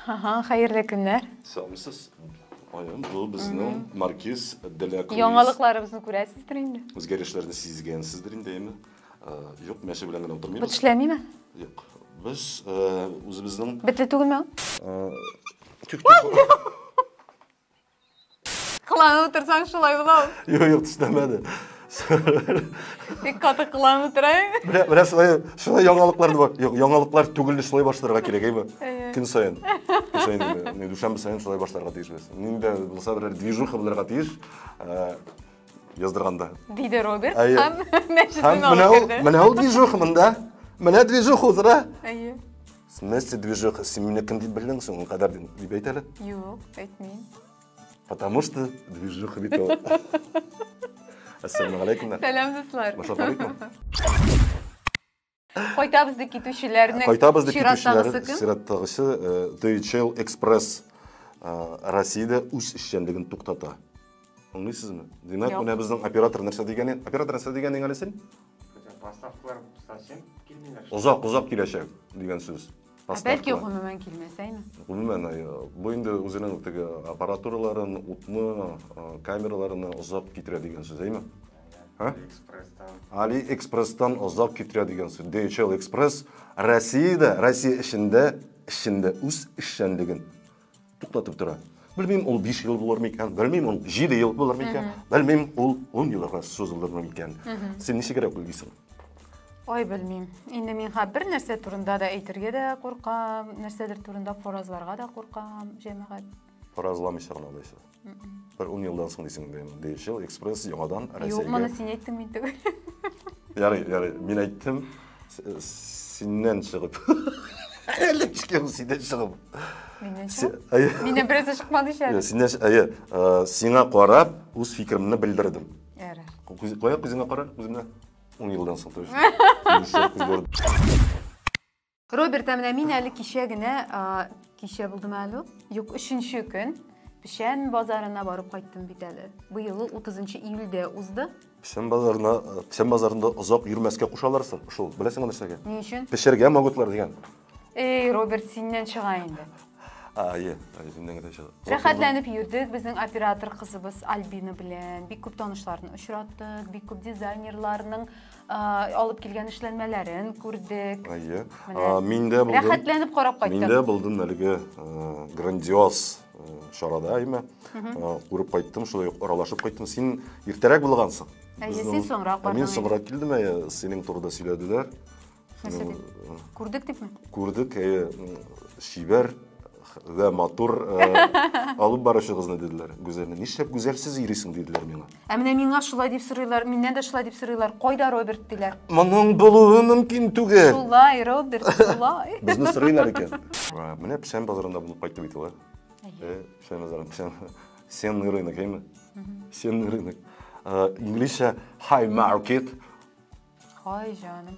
Ага, хәерле көннәр. Сәламсез. Айым, бу безнең маркиз Деля Круиз. Яңалыкларыбызны күрәсездер инде. Үзгәрешләрне сизгәнсездер инде, әйме? Э, Юк, мәче белән генә утырмыйбыз. Бот эшләмиме? Юк. Без э, үзебезнең Бетле түгелме? Э, тик Кыланып утырсаң шулай була ул. Юк, юк, төшенәмәде. Бик каты кыланып утыра. Менә менә шулай шулай яңалыклар бар. Юк, яңалыклар түгел, шулай башларга кирәк, әйме? Көн саен. Көн саен инде. Дүшәмбе саен шулай башларга тиешбез. Нинди булса берәр движуха булырга тиеш. Э, яздырганда. Диде Роберт Әйе. һәм мәчетен Һәм менә алып ул, керде. менә ул движуха монда. Менә движуха узыра. Әйе. Смеси движуха, син мине кем дип белдең соң, ул кадәр дип әйт әле. Юк, әйтмим. Потому что движуха бит ул. Ассаламу алейкум. Сәлам, дуслар. Башлап алыйкмы? Кайтабыз ди китүчеләрнең. Кайтабыз ди китүчеләрнең. Чираттагысы DHL Express Россиядә үз эшчәнлеген туктата. Аңлыйсызмы? Димәк, Юк. менә безнең оператор нәрсә дигәнен, оператор нәрсә дигәнен әле син? Хотя поставкалар совсем килмиләр. шул. Озак, озак киләчәк дигән сүз. Ә бәлки Поставкалар. гомумән килмәс әйме? Гомумән, э, бу инде үзенең теге аппаратураларын, утны, э, камераларын озак китерә дигән сүз, әйме? Һә? Алиэкспресстан. AliExpress-тан озак китерә дигән сүз. DHL Express Россиядә, Россия эчендә, эчендә үз эшчәнлеген туктатып тора. Белмим, ул 5 ел булыр микән, белмим, ул 7 ел булыр микән, белмим, ул 10 елга сузылыр микән. Син ничегрәк уйлыйсың? Ой, белмим. Инде мин ха бер нәрсә турында да әйтергә дә куркам, нәрсәдер турында фаразларга да куркам, җәмәгать. Фаразламыйсың, алайса. Бер ун елдан соң дисең, дим, DHL Express яңадан Россиягә. Юк, моны син әйттең мин түгел. Ярый, ярый, мин әйттем, синнән чыгып. Әле чыгып, синнән чыгып. Миннән чыгып? Миннән берәсе чыкмады ич әле. Синнән, әйе, сиңа карап, үз фикеремне белдердем. Ярар. Кая күзеңә кара, күземә. Ун елдан соң, то есть. Роберт, ә менә мин әле кичә генә, кичә булдымы әле? Юк, өченче көн печән базарына барып кайттым бит әле. Быел 30 июльдә узды. Печән базарына, печән базарында озак йөрмәскә кушалар шул. Беләсеңме нәрсәгә? Ни өчен? Пешергә могутлар дигән. Эй, Роберт, синнән чыга инде. Ае, үземнең дә чыга. Рәхәтләнеп йөрдек безнең оператор кызыбыз Альбина белән. Бик күп танышларны очраттык, бик күп дизайнерларның алып килгән эшләнмәләрен күрдек. Әйе. Миндә булдым. Рәхәтләнеп карап кайттым. Миндә булдым әлеге грандиоз чарада әйме. Күреп кайттым, шулай ук аралашып кайттым. Син иртәрәк булгансың. Әйе, син соңрак бардың. Мин соңрак килдем, әйе, синең турыда сөйләделәр. Күрдек дипме? Күрдек, әйе, шибәр вә матур алып баручыгызны диделәр. Гүзәлне нишләп гүзәлсез йөрисең диделәр миңа. Ә менә миңа шулай дип сорыйлар, миннән дә шулай дип сорыйлар. Кайда Роберт диләр. Моның булуы мөмкин түгел. Шулай, Роберт, шулай. Безне сорыйлар икән. Менә печән базарында булып кайтты бит ул. Э, печән базары, печән. Сенный рынок, әйме? Сенный рынок. Инглизчә high market. Хай жаным.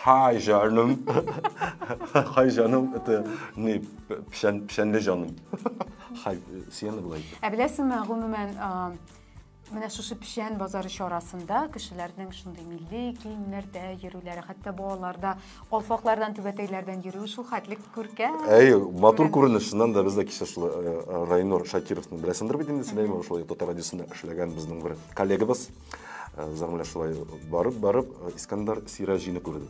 Хай жаным. Хай жаным, это не пшән, пшәнле жаным. Хай, сиены былай. Ә беләсеңме, гомумән, менә шушы печән базары чарасында кешеләрнең шундый милли киемнәрдә йөрүләре, хәтта балалар да Алфаклардан, түбәтәйләрдән йөрү шул хәтле күркәм. Әй, матур күренеш, чыннан да без дә кичә шул э, э, Райнур Шакировны беләсеңдер бит инде, Силәймә шулай татар радиосында эшләгән безнең бер коллегабыз. Э, Зәмлә шулай барып барып э, Искәндәр Сираҗины күрде.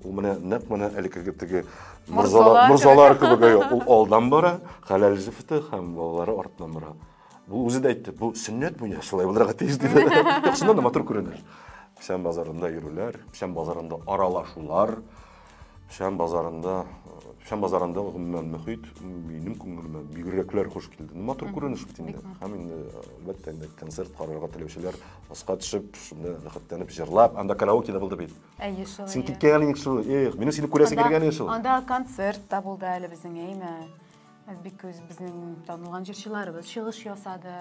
Ул менә нәкъ менә әлеге теге Морзалар, морзалар морзалар кебек. кебек, әйе, ул алдан бара, хәләл җефте һәм балалары артыннан бара. Ул үзе дә әйтте, бу сөннәт бу я, шулай булырга тиеш диде. Чыннан да матур күренеш. Печән базарында йөрүләр, печән базарында аралашулар, печән базарында печән базарында гомумән мөхит минем күңелемә бигрәкләр хуш килде. Ну, матур күренеш бит инде. Һәм инде әлбәттә инде концерт карарга теләүчеләр аска төшеп, шунда рәхәтләнеп җырлап, анда караоке да булды бит. Әйе, шулай. Син киткән инде шул. Эх, минем сине күрәсе килгән инде шул. Анда концерт та булды әле безнең, әйме? Әзбикүз безнең танылган җырчыларыбыз чыгыш ясады.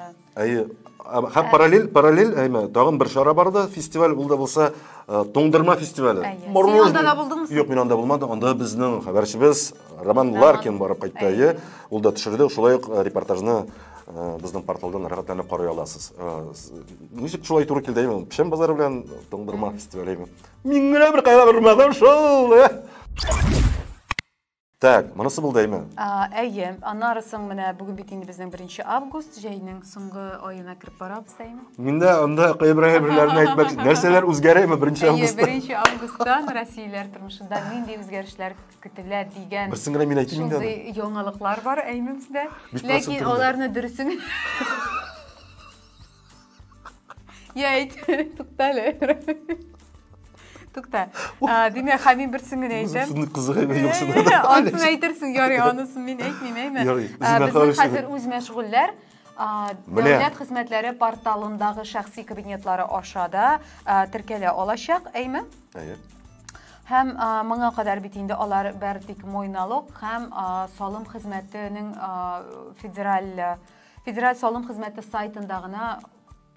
Әйе, һәм параллель, параллель, әйме, тагын бер чара барды, фестиваль ул да булса, э, туңдырма фестивале. Син анда да булдыңмы? Юк, мин анда булмадым. Анда безнең хәбәрчебез Роман Ларкин барып кайтты, әйе. Ул да төшерде, шулай ук э, репортажны э, безнең порталдан рәхәтләнеп карый аласыз. Ничек шулай туры килде, әйме? Печән базары белән туңдырма фестивале, әйме. Мин генә бер кайгырмадым шул. Так, монысы булды әйме? Әйе, аннары соң менә бүген бит инде безнең 1 август, җәйнең соңгы аена кереп барабыз әйме? Миндә анда кайберәе берләрне әйтмәк, нәрсәләр үзгәрәме 1 августта? Әйе, 1 августтан россияләр тормышында нинди үзгәрешләр көтелә дигән. Берсен генә мин әйтим инде. Шундый яңалыклар бар әйме бездә. Ләкин аларны дөресен Я, әйт, тукта әле. Тукта. Димә, хәмин берсен генә әйтәм. Шуны кызыгы гына юк шунда. Анысын әйтерсең, ярый, анысын мин әйтмим, әйме. Безнең хәзер үз мәшгульләр. Дәүләт хезмәтләре порталындагы шәхси кабинетлары аша да теркәлә алачак, әйме? Әйе. Һәм моңа кадәр бит инде алар бер тик мой налог һәм салым хезмәтенең федераль Федераль салым хезмәте сайтында гына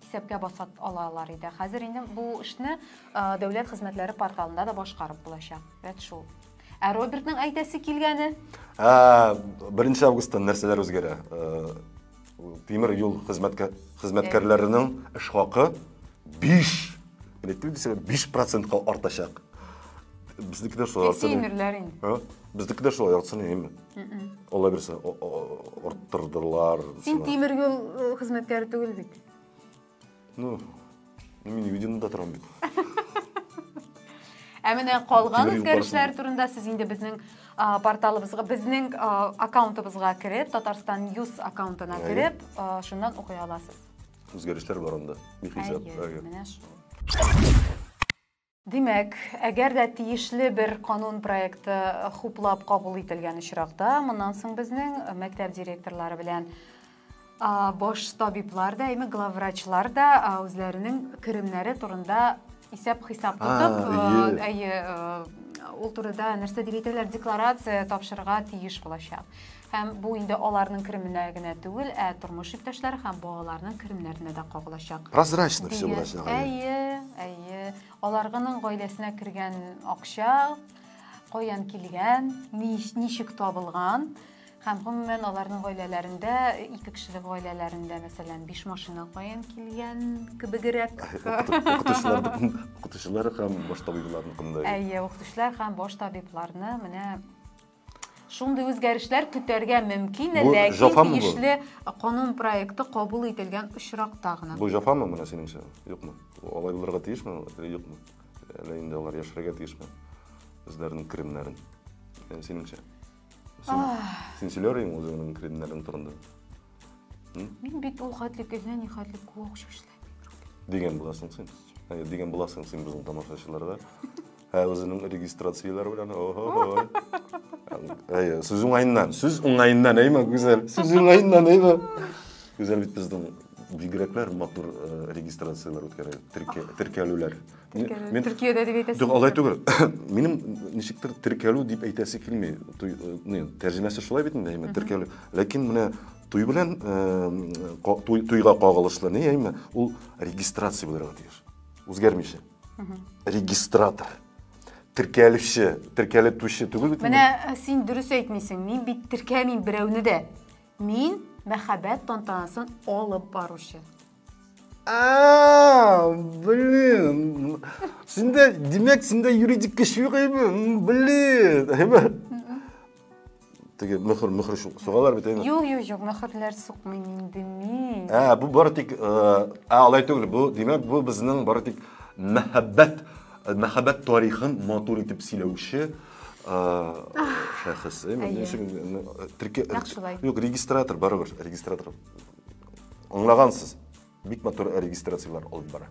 исәпкә баса алалар иде. Хәзер инде бу эшне дәүләт хезмәтләре порталында да башкарып булачак. Вәт шул. Ә Робертның әйтәсе килгәне? Ә, 1 августтан нәрсәләр үзгәрә? Тимер юл хезмәткәрләренең эш хакы 5 электрик дисәгә 5 процентка артачак. Безнекеләр шулай. Тимерләр инде. Бездеки дә шулай, яртысын йөйме? Алла бирсә, арттырдылар. Син тимер юл э, хезмәткәре түгел бит. Ну, мин виденда торам бит. Ә менә калган үзгәрешләр турында сез инде безнең порталыбызга, безнең аккаунтыбызга кереп, Татарстан News аккаунтына кереп, шуннан укый аласыз. Үзгәрешләр бар анда. Бихисап. Менә шул. Димәк, әгәр дә тиешле бер канун проекты хуплап кабул ителгән очракта, моннан соң безнең мәктәп директорлары белән баш табиблар да, әйме главврачлар да үзләренең керемнәре турында исәп-хисап тотып, әйе, ул турыда нәрсә дип әйтәләр, декларация тапшырырга тиеш булачак. Һәм бу инде аларның кеременә генә түгел, ә тормыш иптәшләре һәм балаларның керемнәренә дә кагылачак. Прозрачно все булачак. Әйе, әйе. Аларның гаиләсенә кергән акча, каян килгән, ничек табылган, Һәм гомумән аларның гаиләләрендә, ике кешелек гаиләләрендә, мәсәлән, биш машина каян килгән кебегрәк. Укытучылар һәм баш табибларны кандай? Әйе, укытучылар һәм баш табибларны менә Шундый үзгәрешләр көтәргә мөмкин, Бу ләкин җафамы бу? тиешле канун проекты кабул ителгән очракта гына. Бу җафамы менә синеңчә? Юкмы? Алай булырга тиешме алар или юкмы? Әллә инде алар яшерергә тиешме үзләренең керемнәрен? Ә Синеңчә? Син, син сөйләр идең үзеңнең керемнәрең турында? Мин бит ул хәтле кенә, ни хәтле күк шашлы. Дигән буласың син. Әйе, дигән буласың син безнең тамашачыларга. Ә үзенең регистрацияләр белән. Ого. Әйе, сүз уңаеннан, сүз уңаеннан, әйме, гүзәл. Сүз уңаеннан, әйме. Гүзәл бит безнең бигрәкләр матур э, регистрацияләр үткәрә, теркә- теркәлүләр. Мин- мин- Төркиядә дип әйтәсең. Юк, алай түгел. Минем ничектер теркәлү дип әйтәсе килми. Туй- э, не, Тәрҗемәсе шулай бит инде, әйме, теркәлү. Ләкин менә Туй белән туйга кагылышлы ни әйме, ул регистрация булырга тиеш. Үзгәрмичә. Регистратор. Теркәлүче, теркәлеп түче түгел бит. Менә э, син дөрес әйтмисең. Мин бит теркәмим берәүне дә. Мин мәхәббәт тантанасын алып баручы. А, блин. Синдә, димәк, синдә юридик көч юк әйме? Блин. Әйме? теге мөхер мөхер сугалар бит әйме юк юк юк мөхерләр сукмыйм инде мин ә бу бары тик ә алай түгел бу димәк бу безнең бары тик мәхәббәт мәхәббәт тарихын матур итеп сөйләүче шәхес әйме ни өчен терке юк регистратор барыбер регистратор аңлагансыз бик матур регистрациялар алып бара